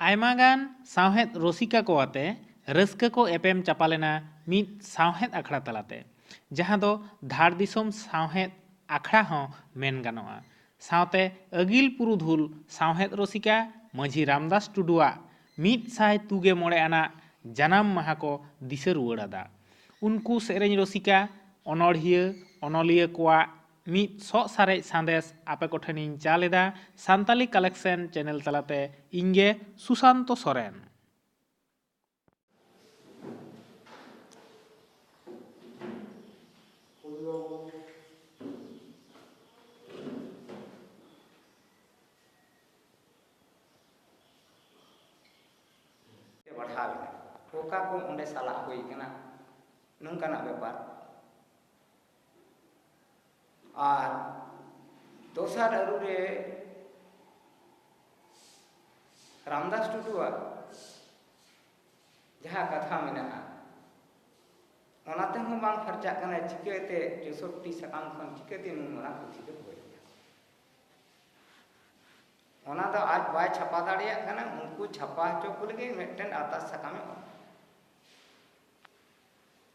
ᱟᱭᱢᱟ ᱜᱟᱱ ᱥᱟᱶᱦᱮᱫ ᱨᱚᱥᱤᱠᱟ ᱠᱚ ᱟᱛᱮ ᱨᱟᱹᱥᱠᱟᱹ ᱠᱚ ᱮᱯᱮᱢ ᱪᱟᱯᱟᱞ ᱮᱱᱟ ᱢᱤᱫ ᱥᱟᱶᱦᱮᱫ ᱟᱠᱷᱲᱟ ᱛᱟᱞᱟ ᱛᱮ, ᱡᱟᱦᱟᱸ ᱫᱚ ᱫᱷᱟᱲ ᱫᱤᱥᱚᱢ ᱥᱟᱶᱦᱮᱫ ᱟᱠᱷᱲᱟ ᱦᱚᱸ ᱢᱮᱱ ᱜᱟᱱᱚᱜᱼᱟ᱾ ᱥᱟᱶᱛᱮ ᱟᱹᱜᱤᱞ ᱯᱩᱨᱩᱫᱷᱩᱞ ᱥᱟᱶᱦᱮᱫ ᱨᱚᱥᱤᱠᱟ ᱢᱟᱹᱡᱷᱤ ᱨᱟᱢᱫᱟᱥ ᱴᱩᱰᱩ ᱟᱜ ᱢᱤᱫ ᱥᱟᱭ ᱛᱩᱜᱮ ᱢᱚᱬᱮ ᱟᱱᱟᱜ ᱡᱟᱱᱟᱢ ᱢᱟᱦᱟᱸ ᱠᱚ ᱫᱤᱥᱟᱹ ᱨᱩᱣᱟᱹᱲ ᱟᱫᱟ᱾ ᱩᱱᱠᱩ ᱥᱮᱨᱮᱧ ᱨᱚᱥᱤᱠᱟ, ᱚᱱᱚᱬᱦᱤᱭᱟᱹ, ᱚᱱᱚᱞᱤᱭᱟᱹ ᱠᱚᱣᱟᱜ ᱢᱤᱫ ᱥᱚᱜ ᱥᱟᱨᱮᱡ ᱥᱟᱸᱫᱮᱥ ᱟᱯᱮ ᱠᱚ ᱴᱷᱮᱱ ᱤᱧ ᱪᱟᱞ ᱮᱫᱟ ᱥᱟᱱᱛᱟᱞᱤ ᱠᱟᱞᱮᱠᱥᱮᱱ ᱪᱮᱱᱮᱞ ᱛᱟᱞᱟ ᱛᱮ ᱤᱧ ᱜᱮ ᱥᱩᱥᱟᱱᱛᱚ ᱥᱚᱨᱮᱱ᱾ ᱵᱟᱲᱦᱟᱣ ᱮᱱᱟ ᱚᱠᱟ ᱠᱚ ᱚᱸᱰᱮ ᱥᱟᱞᱟᱜ ᱦᱩᱭ ᱟᱠᱟᱱᱟ ᱱᱚᱝᱠᱟᱱᱟᱜ ᱵᱮᱯᱟᱨ᱾ ᱟᱨ ᱫᱚᱥᱟᱨ ᱟᱹᱨᱩ ᱨᱮ ᱨᱟᱢᱫᱟᱥ ᱴᱩᱰᱩᱣᱟᱜ ᱡᱟᱦᱟᱸ ᱠᱟᱛᱷᱟ ᱢᱮᱱᱟᱜᱼᱟ ᱚᱱᱟ ᱛᱮᱦᱚᱸ ᱵᱟᱝ ᱯᱷᱟᱨᱪᱟᱜ ᱠᱟᱱᱟ ᱪᱤᱠᱟᱹᱛᱮ ᱪᱳᱥᱚᱴᱴᱤ ᱥᱟᱠᱟᱢ ᱠᱷᱚᱱ ᱪᱤᱠᱟᱹᱛᱮ ᱱᱩᱱ ᱢᱟᱨᱟᱝ ᱯᱩᱛᱷᱤ ᱫᱚ ᱦᱩᱭ ᱚᱱᱟ ᱫᱚ ᱟᱡ ᱵᱟᱭ ᱪᱷᱟᱯᱟ ᱫᱟᱲᱮᱭᱟᱜ ᱠᱟᱱᱟ ᱩᱱᱠᱩ ᱪᱷᱟᱯᱟ ᱦᱚᱪᱚ ᱠᱚ ᱞᱟᱹᱜᱤᱫ ᱢᱤᱫᱴᱮᱱ ᱟᱨᱫᱟᱥ ᱥᱟᱠᱟᱢᱮ ᱚᱞ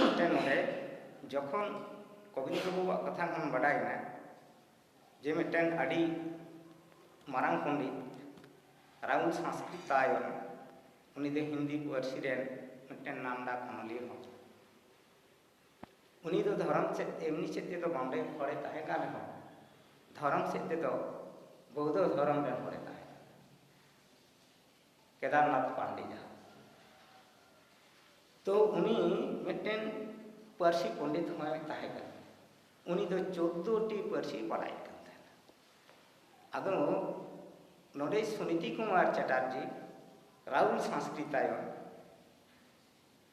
ᱢᱤᱫᱴᱮᱱ ᱱᱚᱰᱮ ᱡᱚᱠᱷᱚᱱ ᱠᱚᱵᱤᱱᱫᱨᱚ ᱵᱟᱵᱩᱣᱟᱜ ᱠᱟᱛᱷᱟ ᱠᱷᱚᱱ ᱵᱟᱰᱟᱭᱮᱱᱟ ᱡᱮ ᱢᱤᱫᱴᱮᱱ ᱟᱹᱰᱤ ᱢᱟᱨᱟᱝ ᱯᱚᱱᱰᱤᱛ ᱨᱟᱦᱩᱞ ᱥᱟᱸᱥᱠᱨᱤᱛ ᱛᱟᱭᱚᱢ ᱩᱱᱤ ᱫᱚ ᱦᱤᱱᱫᱤ ᱯᱟᱹᱨᱥᱤ ᱨᱮᱱ ᱢᱤᱫᱴᱮᱱ ᱱᱟᱢᱰᱟᱠ ᱚᱱᱚᱞᱤᱭᱟᱹ ᱦᱚᱸ ᱩᱱᱤ ᱫᱚ ᱫᱷᱚᱨᱚᱢ ᱥᱮᱫ ᱮᱢᱱᱤ ᱥᱮᱫ ᱛᱮᱫᱚ ᱵᱟᱢᱵᱮ ᱦᱚᱲᱮ ᱛᱟᱦᱮᱸ ᱠᱟᱱ ᱨᱮᱦᱚᱸ ᱫᱷᱚᱨᱚᱢ ᱥᱮᱫ ᱛᱮᱫᱚ ᱵᱚᱣᱫᱷᱚ ᱫᱷᱚᱨᱚᱢ ᱨᱮᱱ ᱦᱚᱲᱮ ᱛᱟᱦᱮᱸ ᱠᱮᱫᱟᱨᱱᱟᱛᱷ ᱯᱟᱱᱰᱮ ᱡᱟᱦᱟᱸ ᱛᱚ ᱩᱱᱤ ᱢᱤᱫᱴᱮᱱ ᱯᱟᱹᱨᱥᱤ ᱯᱚᱸᱰᱤᱛ ᱦᱚᱸᱭ ᱛᱟᱦᱮᱸ ᱠᱟᱱᱟ ᱩᱱᱤ ᱫᱚ ᱪᱳᱫᱫᱳᱴᱤ ᱯᱟᱹᱨᱥᱤ ᱵᱟᱲᱟᱭ ᱠᱟᱱ ᱛᱟᱦᱮᱱᱟ ᱟᱫᱚ ᱱᱚᱰᱮ ᱥᱩᱱᱤᱛᱤ ᱠᱩᱢᱟᱨ ᱪᱟᱴᱟᱨᱡᱤ ᱨᱟᱦᱩᱞ ᱥᱟᱸᱥᱠᱨᱤᱛᱟᱭᱚᱱ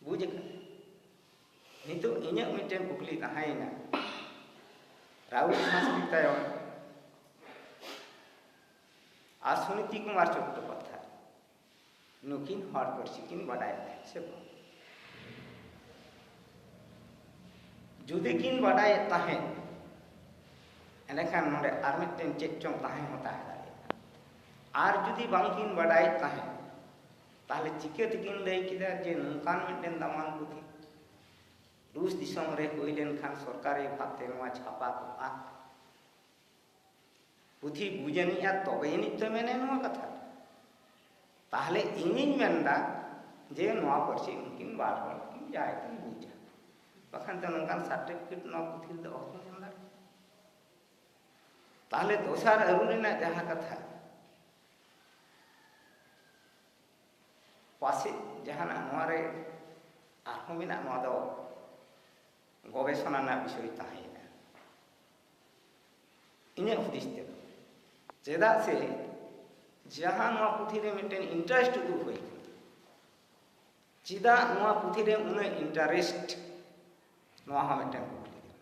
ᱵᱩᱡᱽ ᱟᱠᱟᱫᱟ ᱱᱤᱛᱚᱜ ᱤᱧᱟᱹᱜ ᱢᱤᱫᱴᱮᱱ ᱠᱩᱠᱞᱤ ᱛᱟᱦᱮᱸᱭᱮᱱᱟ ᱨᱟᱦᱩᱞ ᱥᱟᱥᱠᱨᱤᱛ ᱛᱟᱭᱚᱢ ᱟᱨ ᱥᱩᱱᱤᱛᱤ ᱠᱩᱢᱟᱨ ᱪᱚᱴᱴᱳᱯᱟᱫᱽᱫᱷᱟᱭ ᱱᱩᱠᱤᱱ ᱦᱚᱲ ᱯᱟᱹᱨᱥᱤ ᱠᱤᱱ ᱵᱟᱰᱟᱭ ᱛᱟᱦᱮᱸᱫ ᱥᱮ ᱵᱟᱝ ᱡᱩᱫᱤ ᱠᱤᱱ ᱵᱟᱰᱟᱭᱮᱫ ᱛᱟᱦᱮᱸᱫ ᱮᱸᱰᱮᱠᱷᱟᱱ ᱱᱚᱰᱮ ᱟᱨ ᱢᱤᱫᱴᱮᱱ ᱪᱮᱫ ᱪᱚᱝ ᱛᱟᱦᱮᱸ ᱦᱚᱸ ᱛᱟᱦᱮᱸ ᱫᱟᱲᱮᱭᱟᱜᱼᱟ ᱟᱨ ᱡᱩᱫᱤ ᱵᱟᱝᱠᱤᱱ ᱵᱟᱰᱟᱭᱮᱫ ᱛᱟᱦᱮᱸᱫ ᱛᱟᱦᱚᱞᱮ ᱪᱤᱠᱟᱹ ᱛᱮᱠᱤᱱ ᱞᱟᱹᱭ ᱠᱮᱫᱟ ᱡᱮ ᱱᱚᱝᱠᱟᱱ ᱢᱤᱫᱴᱮᱱ ᱫᱟᱢᱟᱱ ᱯᱩᱛᱷᱤ ᱨᱩᱥ ᱫᱤᱥᱚᱢ ᱨᱮ ᱦᱩᱭ ᱞᱮᱱᱠᱷᱟᱱ ᱥᱚᱨᱠᱟᱨᱤ ᱵᱷᱟᱵᱛᱮ ᱱᱚᱣᱟ ᱪᱷᱟᱯᱟ ᱠᱚᱜᱼᱟ ᱯᱩᱛᱷᱤ ᱵᱩᱡᱽ ᱟᱹᱱᱤᱡᱼᱟ ᱛᱚᱵᱮ ᱟᱹᱱᱤᱡ ᱛᱚ ᱢᱮᱱᱟᱭ ᱱᱚᱣᱟ ᱠᱟᱛᱷᱟ ᱛᱟᱦᱚᱞᱮ ᱤᱧᱤᱧ ᱢᱮᱱᱫᱟ ᱡᱮ ᱱᱚᱣᱟ ᱯᱟᱹᱨᱥᱤ ᱩᱱᱠᱤᱱ ᱵᱟᱨ ᱦᱚᱲ ᱠᱤᱱ ᱡᱟᱦᱟᱸᱭ ᱠᱤᱱ ᱵᱩᱡᱟ ᱵᱟᱠᱷᱟᱱ ᱫᱚ ᱱᱚᱝᱠᱟᱱ ᱥᱟᱨᱴᱤᱯᱷᱤᱠᱮᱴ ᱱᱚᱣᱟ ᱯᱩᱛᱷᱤ ᱨᱮᱫᱚ ᱚᱦᱚ ᱧᱟᱢ ᱫᱟᱲᱮᱭᱟᱜᱼᱟ ᱛᱟᱦᱚᱞᱮ ᱫᱚᱥᱟᱨ ᱟᱹᱨᱩ ᱨᱮᱱᱟᱜ ᱡᱟᱦᱟᱸ ᱠᱟᱛᱷᱟ ᱯᱟᱥᱮᱡ ᱡᱟᱦᱟᱱᱟᱜ ᱱᱚᱣᱟ ᱨᱮ ᱟᱨᱦᱚᱸ ᱢᱮᱱᱟᱜ ᱱᱚᱣᱟ ᱫᱚ ᱜᱚᱵᱮᱥᱚᱱᱟ ᱨᱮᱱᱟᱜ ᱵᱤᱥᱚᱭ ᱛᱟᱦᱮᱸᱭᱮᱱᱟ ᱤᱧᱟᱹᱜ ᱦᱩᱫᱤᱥ ᱛᱮᱫᱚ ᱪᱮᱫᱟᱜ ᱥᱮ ᱡᱟᱦᱟᱸ ᱱᱚᱣᱟ ᱯᱩᱛᱷᱤ ᱨᱮ ᱢᱤᱫᱴᱮᱱ ᱤᱱᱴᱟᱨᱮᱥᱴ ᱩᱫᱩᱜ ᱦᱩᱭ ᱟᱠᱟᱱᱟ ᱪᱮᱫᱟᱜ ᱱᱚᱣᱟ ᱯᱩᱛᱷᱤ ᱨᱮ ᱩᱱᱟᱹᱜ ᱤᱱᱴᱟᱨᱮᱥᱴ ᱱᱚᱣᱟ ᱦᱚᱸ ᱢᱤᱫᱴᱮᱱ ᱠᱩᱠᱞᱤ ᱠᱟᱱᱟ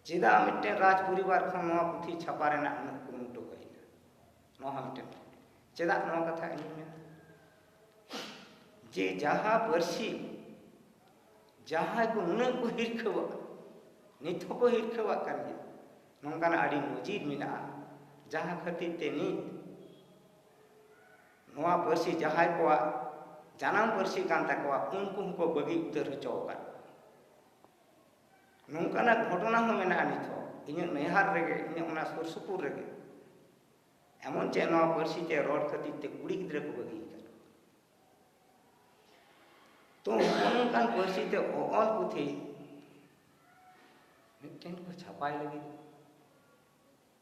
ᱪᱮᱫᱟᱜ ᱢᱤᱫᱴᱮᱱ ᱨᱟᱡᱽ ᱯᱚᱨᱤᱵᱟᱨ ᱠᱷᱚᱱ ᱱᱚᱣᱟ ᱯᱩᱛᱷᱤ ᱪᱷᱟᱯᱟ ᱨᱮᱱᱟᱜ ᱩᱱᱟᱹᱜ ᱠᱩᱨᱩᱢᱩᱴᱩ ᱦᱩᱭᱱᱟ ᱱᱚᱣᱟ ᱦᱚᱸ ᱢᱤᱫᱴᱮᱱ ᱠᱩᱠᱞᱤ ᱪᱮᱫᱟᱜ ᱱᱚᱣᱟ ᱠᱟᱛᱷᱟ ᱤᱧ ᱢᱮᱱᱟ ᱡᱮ ᱡᱟᱦᱟᱸ ᱯᱟᱹᱨᱥᱤ ᱡᱟᱦᱟᱸᱭ ᱠᱚ ᱱᱩᱱᱟᱹᱜ ᱠᱚ ᱦᱤᱨᱠᱷᱟᱹᱣᱟᱜ ᱱᱤᱛ ᱦᱚᱸᱠᱚ ᱦᱤᱨᱠᱷᱟᱹᱣᱟᱜ ᱠᱟᱱ ᱜᱮᱭᱟ ᱱᱚᱝᱠᱟᱱᱟᱜ ᱟᱹᱰᱤ ᱱᱚᱡᱤᱨ ᱢᱮᱱᱟᱜᱼᱟ ᱡᱟᱦᱟᱸ ᱠᱷᱟᱹᱛᱤᱨ ᱛᱮ ᱱᱤᱛ ᱱᱚᱣᱟ ᱯᱟᱹᱨᱥᱤ ᱡᱟᱦᱟᱸᱭ ᱠᱚᱣᱟᱜ ᱡᱟᱱᱟᱢ ᱯᱟᱹᱨᱥᱤ ᱠᱟᱱ ᱛᱟᱠᱚᱣᱟ ᱩᱱᱠᱩ ᱦᱚᱸᱠᱚ ᱵᱟᱹᱜᱤ ᱩᱛᱟᱹᱨ ᱦᱚᱪᱚ ᱟᱠᱟᱫ ᱱᱚᱝᱠᱟᱱᱟᱜ ᱜᱷᱚᱴᱚᱱᱟ ᱦᱚᱸ ᱢᱮᱱᱟᱜᱼᱟ ᱱᱤᱛ ᱦᱚᱸ ᱤᱧᱟᱹᱜ ᱱᱮᱦᱟᱨ ᱨᱮᱜᱮ ᱤᱧᱟᱹᱜ ᱚᱱᱟ ᱥᱩᱨ ᱥᱩᱯᱩᱨ ᱨᱮᱜᱮ ᱮᱢᱚᱱ ᱪᱮᱫ ᱱᱚᱣᱟ ᱯᱟᱹᱨᱥᱤ ᱛᱮ ᱨᱚᱲ ᱠᱷᱟᱹᱛᱤᱨ ᱛᱮ ᱠᱩᱲᱤ ᱜᱤᱫᱽᱨᱟᱹ ᱠᱚ ᱵᱟᱹᱜᱤ ᱟᱠᱟᱫ ᱛᱚ ᱚᱱᱠᱟᱱ ᱯᱟᱹᱨᱥᱤ ᱛᱮ ᱚᱞ ᱯᱩᱛᱷᱤ ᱢᱤᱫᱴᱮᱱ ᱠᱚ ᱪᱷᱟᱯᱟᱭ ᱞᱟᱹᱜᱤᱫ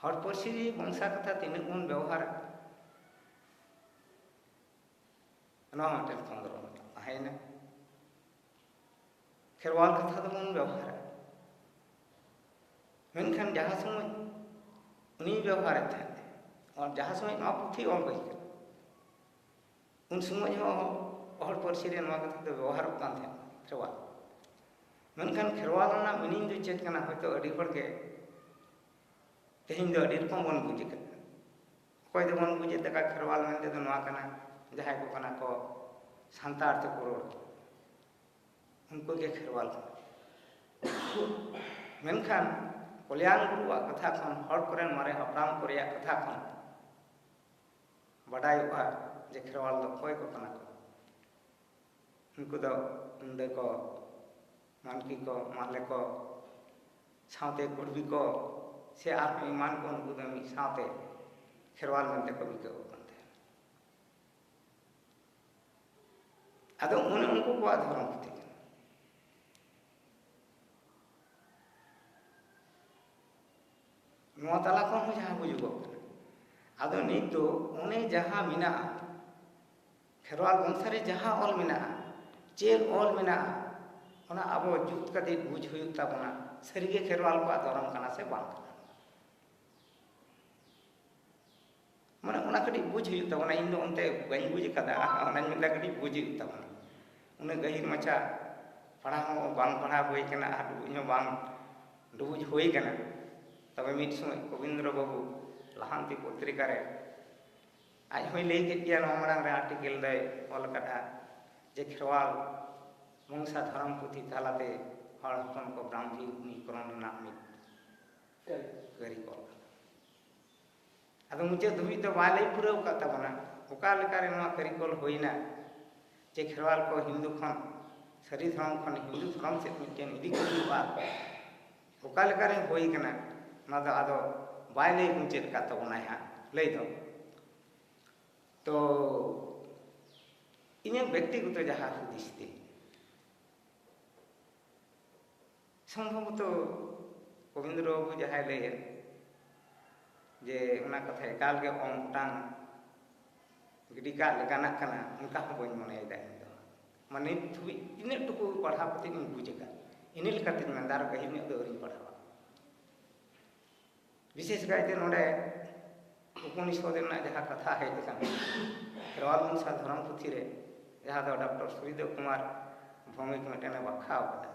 ᱦᱚᱲ ᱯᱟᱹᱨᱥᱤ ᱱᱤᱭᱮ ᱵᱚᱝᱥᱟ ᱠᱟᱛᱷᱟ ᱛᱤᱱᱟᱹᱜ ᱵᱚᱱ ᱵᱮᱣᱦᱟᱨᱟ ᱱᱚᱣᱟ ᱢᱤᱫᱴᱮᱱ ᱠᱷᱚᱸᱫᱽᱨᱚᱱ ᱛᱟᱦᱮᱸᱭᱮᱱᱟ ᱠᱷᱮᱨᱣᱟᱞ ᱠᱟᱛᱷᱟ ᱫᱚᱵᱚᱱ ᱵᱮᱣᱦᱟᱨᱟ ᱢᱮᱱᱠᱷᱟᱱ ᱡᱟᱦᱟᱸ ᱥᱚᱢᱚᱭ ᱩᱱᱤ ᱵᱮᱣᱦᱟᱨᱮᱫ ᱛᱟᱦᱮᱸᱫ ᱡᱟᱦᱟᱸ ᱥᱚᱢᱚᱭ ᱱᱚᱣᱟ ᱯᱩᱛᱷᱤ ᱚᱞ ᱦᱩᱭ ᱠᱟᱱᱟ ᱩᱱ ᱥᱚᱢᱚᱭ ᱦᱚᱸ ᱦᱚᱲ ᱯᱟᱹᱨᱥᱤ ᱨᱮ ᱱᱚᱣᱟ ᱠᱟᱛᱷᱟ ᱫᱚ ᱵᱮᱵᱚᱦᱟᱨᱚᱜ ᱠᱟᱱ ᱛᱟᱦᱮᱸᱫ ᱠᱷᱮᱨᱣᱟᱞ ᱢᱮᱱᱠᱷᱟᱱ ᱠᱷᱮᱨᱣᱟᱞ ᱨᱮᱱᱟᱜ ᱢᱤᱱᱤᱝ ᱫᱚ ᱪᱮᱫ ᱠᱟᱱᱟ ᱦᱚᱭᱛᱳ ᱟᱹᱰᱤ ᱦᱚᱲ ᱜᱮ ᱛᱮᱦᱮᱧ ᱫᱚ ᱟᱹᱰᱤ ᱨᱚᱠᱚᱢ ᱵᱚᱱ ᱵᱩᱡᱽ ᱠᱟᱫᱟ ᱚᱠᱚᱭ ᱫᱚᱵᱚᱱ ᱵᱩᱡᱮᱫ ᱞᱮᱠᱟ ᱠᱷᱮᱨᱣᱟᱞ ᱢᱮᱱᱛᱮ ᱫᱚ ᱱᱚᱣᱟ ᱠᱟᱱᱟ ᱡᱟᱦᱟᱸᱭ ᱠᱚ ᱠᱟᱱᱟ ᱠᱚ ᱥᱟᱱᱛᱟᱲ ᱛᱮᱠᱚ ᱨᱚᱲ ᱩᱱᱠᱩ ᱜᱮ ᱠᱷᱮᱨᱣᱟᱞ ᱠᱟᱱᱟ ᱢᱮᱱᱠᱷᱟᱱ ᱠᱚᱞᱭᱟᱱ ᱜᱩᱨᱩᱣᱟᱜ ᱠᱟᱛᱷᱟ ᱠᱷᱚᱱ ᱦᱚᱲ ᱠᱚᱨᱮᱱ ᱢᱟᱨᱮ ᱦᱟᱯᱲᱟᱢ ᱠᱚ ᱨᱮᱭᱟᱜ ᱠᱟᱛᱷᱟ ᱠᱷᱚᱱ ᱵᱟᱰᱟᱭᱚᱜᱼᱟ ᱡᱮ ᱠᱷᱮᱨᱣᱟᱞ ᱫᱚ ᱚᱠᱚᱭ ᱠᱚ ᱠᱟᱱᱟ ᱠᱚ ᱩᱱᱠᱩ ᱫᱚ ᱢᱩᱸᱰᱟᱹ ᱠᱚ ᱢᱟᱱᱠᱤ ᱠᱚ ᱢᱟᱦᱞᱮ ᱠᱚ ᱥᱟᱶᱛᱮ ᱠᱩᱲᱵᱤ ᱠᱚ ᱥᱮ ᱟᱨᱦᱚᱸ ᱮᱢᱟᱱ ᱠᱚ ᱩᱱᱠᱩ ᱫᱚ ᱢᱤᱫ ᱥᱟᱶᱛᱮ ᱠᱷᱮᱨᱣᱟᱞ ᱢᱮᱱᱛᱮ ᱠᱚ ᱵᱤᱠᱟᱹᱣ ᱠᱟᱱ ᱛᱟᱦᱮᱸᱱᱟ ᱟᱫᱚ ᱚᱱᱮ ᱩᱱᱠᱩ ᱠᱚᱣᱟᱜ ᱫᱷᱚᱨᱚᱢ ᱯᱩᱛᱷᱤ ᱠᱟᱱᱟ ᱱᱚᱣᱟ ᱛᱟᱞᱟ ᱠᱷᱚᱱ ᱦᱚᱸ ᱡᱟᱦᱟᱸ ᱵᱩᱡᱩᱜᱚᱜ ᱠᱟᱱᱟ ᱟᱫᱚ ᱱᱤᱛ ᱫᱚ ᱚᱱᱮ ᱡᱟᱦᱟᱸ ᱢᱮᱱᱟᱜᱼᱟ ᱠᱷᱮᱨᱣᱟᱞ ᱵᱚᱝᱥᱟ ᱨᱮ ᱡᱟᱦᱟᱸ ᱚᱞ ᱢᱮᱱᱟᱜᱼᱟ ᱪᱮᱫ ᱚᱞ ᱢᱮᱱᱟᱜᱼᱟ ᱚᱱᱟ ᱟᱵᱚ ᱡᱩᱛ ᱠᱟᱛᱮ ᱵᱩᱡᱽ ᱦᱩᱭᱩᱜ ᱛᱟᱵᱚᱱᱟ ᱥᱟᱹᱨᱤᱜᱮ ᱠᱷᱮᱨᱣᱟᱞ ᱠᱚᱣᱟᱜ ᱫᱷᱚᱨᱚᱢ ᱠᱟᱱᱟ ᱥᱮ ᱵᱟᱝ ᱠᱟᱱᱟ ᱢᱟᱱᱮ ᱚᱱᱟ ᱠᱟᱹᱴᱤᱡ ᱵᱩᱡᱽ ᱦᱩᱭᱩᱜ ᱛᱟᱵᱚᱱᱟ ᱤᱧ ᱫᱚ ᱚᱱᱛᱮ ᱵᱟᱹᱧ ᱵᱩᱡᱽ ᱟᱠᱟᱫᱟ ᱚᱱᱟᱧ ᱢᱮᱱᱫᱟ ᱠᱟᱹᱴᱤᱡ ᱵᱩᱡᱽ ᱦᱩᱭᱩᱜ ᱛᱟᱵᱚᱱᱟ ᱩᱱᱟᱹᱜ ᱜᱟᱹᱦᱤᱨ ᱢᱟᱪᱷᱟ ᱯᱟᱲᱦᱟᱣ ᱦᱚᱸ ᱵᱟᱝ ᱯᱟᱲᱦᱟᱣ ᱦᱩᱭ ᱟᱠᱟᱱᱟ ᱟᱨ ᱰᱩᱵᱩᱡ ᱦᱚᱸ ᱵᱟᱝ ᱰᱩᱵᱩᱡ ᱦᱩᱭ ᱟᱠᱟᱱᱟ ᱛᱚᱵᱮ ᱢᱤᱫ ᱥᱚᱢᱚᱭ ᱠᱚᱵᱤᱱᱫᱨᱚ ᱵᱟᱹᱵᱩ ᱞᱟᱦᱟᱱᱛᱤ ᱯᱚᱛᱨᱤᱠᱟ ᱨᱮ ᱟᱡ ᱦᱚᱸᱭ ᱞᱟᱹᱭ ᱠᱮᱫ ᱜᱮᱭᱟ ᱱᱚᱣᱟ ᱢᱟᱲᱟᱝ ᱨᱮ ᱟᱨᱴᱤᱠᱮᱞ ᱫᱚᱭ ᱚᱞ ᱟᱠᱟᱫᱼᱟ ᱡᱮ ᱠᱷᱮᱨᱣᱟᱞ ᱵᱚᱝᱥᱟ ᱫᱷᱚᱨᱚᱢ ᱯᱩᱛᱷᱤ ᱛᱟᱞᱟᱛᱮ ᱦᱚᱲ ᱦᱚᱯᱚᱱ ᱠᱚ ᱵᱨᱟᱦᱢᱤ ᱩᱱᱤᱠᱨᱚᱢ ᱨᱮᱱᱟᱜ ᱢᱤᱫ ᱠᱟᱹᱨᱤ ᱠᱚ ᱟᱫᱚ ᱢᱩᱪᱟᱹᱫ ᱫᱷᱩᱵᱤᱡ ᱫᱚ ᱵᱟᱭ ᱞᱟᱹᱭ ᱯᱩᱨᱟᱹᱣ ᱟᱠᱟᱫ ᱛᱟᱵᱚᱱᱟ ᱚᱠᱟ ᱞᱮᱠᱟᱨᱮ ᱱᱚᱣᱟ ᱠᱟᱹᱨᱤᱜᱚᱞ ᱦᱩᱭᱱᱟ ᱡᱮ ᱠᱷᱮᱨᱣᱟᱞ ᱠᱚ ᱦᱤᱱᱫᱩ ᱠᱷᱚᱱ ᱥᱟᱹᱨᱤ ᱫᱷᱚᱨᱚᱢ ᱠᱷᱚᱱ ᱦᱤᱱᱫᱩ ᱫᱷᱚᱨᱚᱢ ᱥᱮᱫ ᱢᱤᱫᱴᱮᱱ ᱤᱫᱤ ᱠᱚ ᱦᱩᱭᱩᱜᱼᱟ ᱚᱠᱟ ᱞᱮᱠᱟᱨᱮ ᱦᱩᱭ ᱠᱟᱱᱟ ᱚᱱᱟ ᱫᱚ ᱟᱫᱚ ᱵᱟᱭ ᱞᱟᱹᱭ ᱢᱩᱪᱟᱹᱫ ᱟᱠᱟᱫ ᱛᱟᱵᱚᱱᱟᱭ ᱦᱟᱸᱜ ᱞᱟᱹᱭ ᱫᱚ ᱛᱚ ᱤᱧᱟᱹᱜ ᱵᱮᱠᱛᱤᱜᱚᱛᱚ ᱡᱟᱦᱟᱸ ᱦᱩᱫᱤᱥ ᱛᱤᱧ ᱥᱚᱢᱵᱷᱚᱵᱚᱛᱚ ᱚᱵᱤᱱᱫᱨᱚ ᱵᱟᱵᱩ ᱡᱟᱦᱟᱸᱭ ᱞᱟᱹᱭᱮᱫ ᱡᱮ ᱚᱱᱟ ᱠᱟᱛᱷᱟ ᱮᱠᱟᱞ ᱜᱮ ᱚᱝ ᱚᱴᱟᱝ ᱜᱤᱰᱤ ᱠᱟᱜ ᱞᱮᱠᱟᱱᱟᱜ ᱠᱟᱱᱟ ᱚᱱᱠᱟ ᱦᱚᱸ ᱵᱟᱹᱧ ᱢᱚᱱᱮᱭᱮᱫᱟ ᱤᱧ ᱫᱚ ᱢᱟᱱᱮ ᱱᱤᱛ ᱫᱷᱟᱹᱵᱤᱡ ᱛᱤᱱᱟᱹᱜ ᱴᱩᱠᱩ ᱯᱟᱲᱦᱟᱣ ᱠᱟᱛᱮ ᱤᱧ ᱵᱩᱡᱽ ᱟᱠᱟᱫ ᱤᱱᱟᱹ ᱞᱮᱠᱟᱛᱤᱧ ᱢᱮᱱᱫᱟ ᱟᱨ ᱜᱟᱹᱦᱤᱨ ᱧᱚᱜ ᱫᱚ ᱟᱹᱣᱨᱤᱧ ᱯᱟᱲᱦᱟᱣᱟ ᱵᱤᱥᱮᱥ ᱠᱟᱭᱛᱮ ᱱᱚᱰᱮ ᱩᱯᱚᱱᱤᱥᱚᱫ ᱨᱮᱱᱟᱜ ᱡᱟᱦᱟᱸ ᱠᱟᱛᱷᱟ ᱦᱮᱡ ᱟᱠᱟᱱᱟ ᱠᱷᱮᱨᱣᱟᱞ ᱢᱚᱱᱥᱟ ᱫᱷᱚᱨᱚᱢ ᱯᱩᱛᱷᱤ ᱨᱮ ᱡᱟᱦᱟᱸ ᱫᱚ ᱰᱚᱠᱴᱚᱨ ᱥᱩᱨᱤᱫᱮᱵ ᱠᱩᱢᱟᱨ ᱵᱷᱚᱢᱤᱠ ᱢᱤᱫᱴᱮᱱᱮ ᱵᱟᱠᱷᱟ ᱟᱠᱟᱫᱟ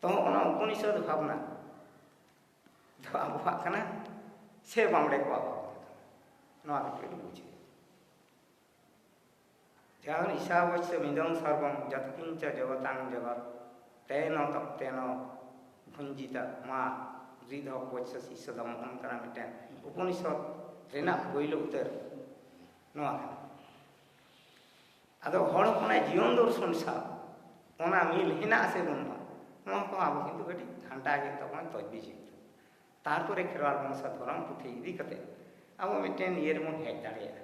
ᱛᱚ ᱚᱱᱟ ᱩᱯᱚᱱᱤᱥᱚᱫ ᱵᱷᱟᱵᱽᱱᱟ ᱫᱚ ᱟᱵᱚᱣᱟᱜ ᱠᱟᱱᱟ ᱥᱮ ᱵᱟᱢᱲᱮ ᱠᱚᱣᱟᱜ ᱵᱷᱟᱵᱽᱱᱟ ᱠᱟᱱᱟ ᱱᱚᱣᱟ ᱠᱟᱹᱴᱤᱡ ᱵᱩᱡᱷᱟᱹᱣ ᱡᱟᱦᱟᱱ ᱤᱥᱟᱵᱚᱪ ᱥᱮ ᱢᱤᱫᱚᱝ ᱥᱟᱨᱵᱚᱝ ᱡᱟᱛᱠᱤᱧ ᱪᱟ ᱡᱚᱜᱚᱛᱟᱝ ᱡᱚᱜᱚᱛ ᱛᱮᱱᱚ ᱛᱚᱯᱛᱮᱱᱚ ᱵᱷᱩᱧᱡᱤᱛᱟ ᱢᱟ ᱨᱤᱫᱷᱚ ᱯᱚᱪᱥᱟ ᱥᱤᱥᱥᱚ ᱫᱚ ᱢᱚᱦᱚᱱ ᱠᱟᱱᱟ ᱢᱤᱫᱴᱮᱱ ᱩᱯᱚᱱᱤᱥᱚᱫ ᱨᱮᱱᱟᱜ ᱯᱳᱭᱞᱳ ᱩᱛᱟᱹᱨ ᱱᱚᱣᱟ ᱠᱟᱱᱟ ᱟᱫᱚ ᱦᱚᱲ ᱦᱚᱯᱚᱱᱟᱜ ᱡᱤᱭᱚᱱ ᱫᱚᱨᱥᱚᱱ ᱥᱟᱶ ᱚᱱᱟ ᱢᱤᱞ ᱦᱮᱱᱟᱜ ᱥᱮ ᱵᱟᱹᱱᱩᱜᱼᱟ ᱱᱚᱣᱟ ᱠᱚ ᱟᱵᱚ ᱠᱤᱱᱛᱩ ᱠᱟᱹᱴᱤᱡ ᱜᱷᱟᱱᱴᱟ ᱜᱮ ᱛᱟᱵᱚᱱ ᱛᱚᱡᱽᱵᱤᱡ ᱦᱩᱭᱩᱜ ᱛᱟᱵᱚᱱᱟ ᱛᱟᱨᱯᱚᱨᱮ ᱠᱷᱮᱨᱣᱟᱞ ᱵᱚᱝᱥᱟ ᱫᱷᱚᱨᱚᱢ ᱯᱩᱛᱷᱤ ᱤᱫᱤ ᱠᱟᱛᱮ ᱟᱵᱚ ᱢᱤᱫᱴᱮᱱ ᱤᱭᱟᱹ ᱨᱮᱵᱚᱱ ᱦᱮᱡ ᱫᱟᱲᱮᱭᱟᱜᱼᱟ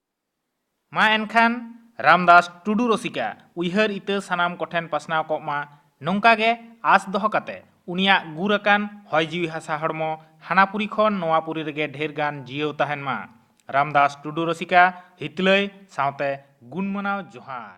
ᱢᱟ ᱮᱱᱠᱷᱟᱱ ᱨᱟᱢᱫᱟᱥ ᱴᱩᱰᱩ ᱨᱚᱥᱤᱠᱟ ᱩᱭᱦᱟᱹᱨ ᱤᱛᱟᱹ ᱥᱟᱱᱟᱢ ᱠᱚᱴᱷᱮᱱ ᱯᱟᱥᱱᱟᱣ ᱠᱚᱜ ᱢᱟ ᱱᱚᱝᱠᱟ ᱜᱮ ᱟᱸᱥ ᱫᱚᱦᱚ ᱠᱟᱛᱮ ᱩᱱᱤᱭᱟᱜ ᱜᱩᱨ ᱟᱠᱟᱱ ᱦᱚᱭ ᱡᱤᱣᱤ ᱦᱟᱥᱟ ᱦᱚᱲᱢᱚ ᱦᱟᱱᱟᱯᱩᱨᱤ ᱠᱷᱚᱱ ᱱᱚᱣᱟᱯᱩᱨᱤ ᱨᱮᱜᱮ ᱰᱷᱮᱨ ᱜᱟᱱ ᱡᱤᱭᱟᱹᱣ ᱛᱟᱦᱮᱱ ᱢᱟ ᱨᱟᱢᱫᱟᱥ ᱴᱩᱰᱩ ᱨᱚᱥᱤᱠᱟ ᱦᱤᱛᱞᱟᱹᱭ ᱥᱟᱶᱛᱮ ᱜᱩᱱᱢᱟᱱᱟᱣ ᱡᱚᱦᱟᱨ᱾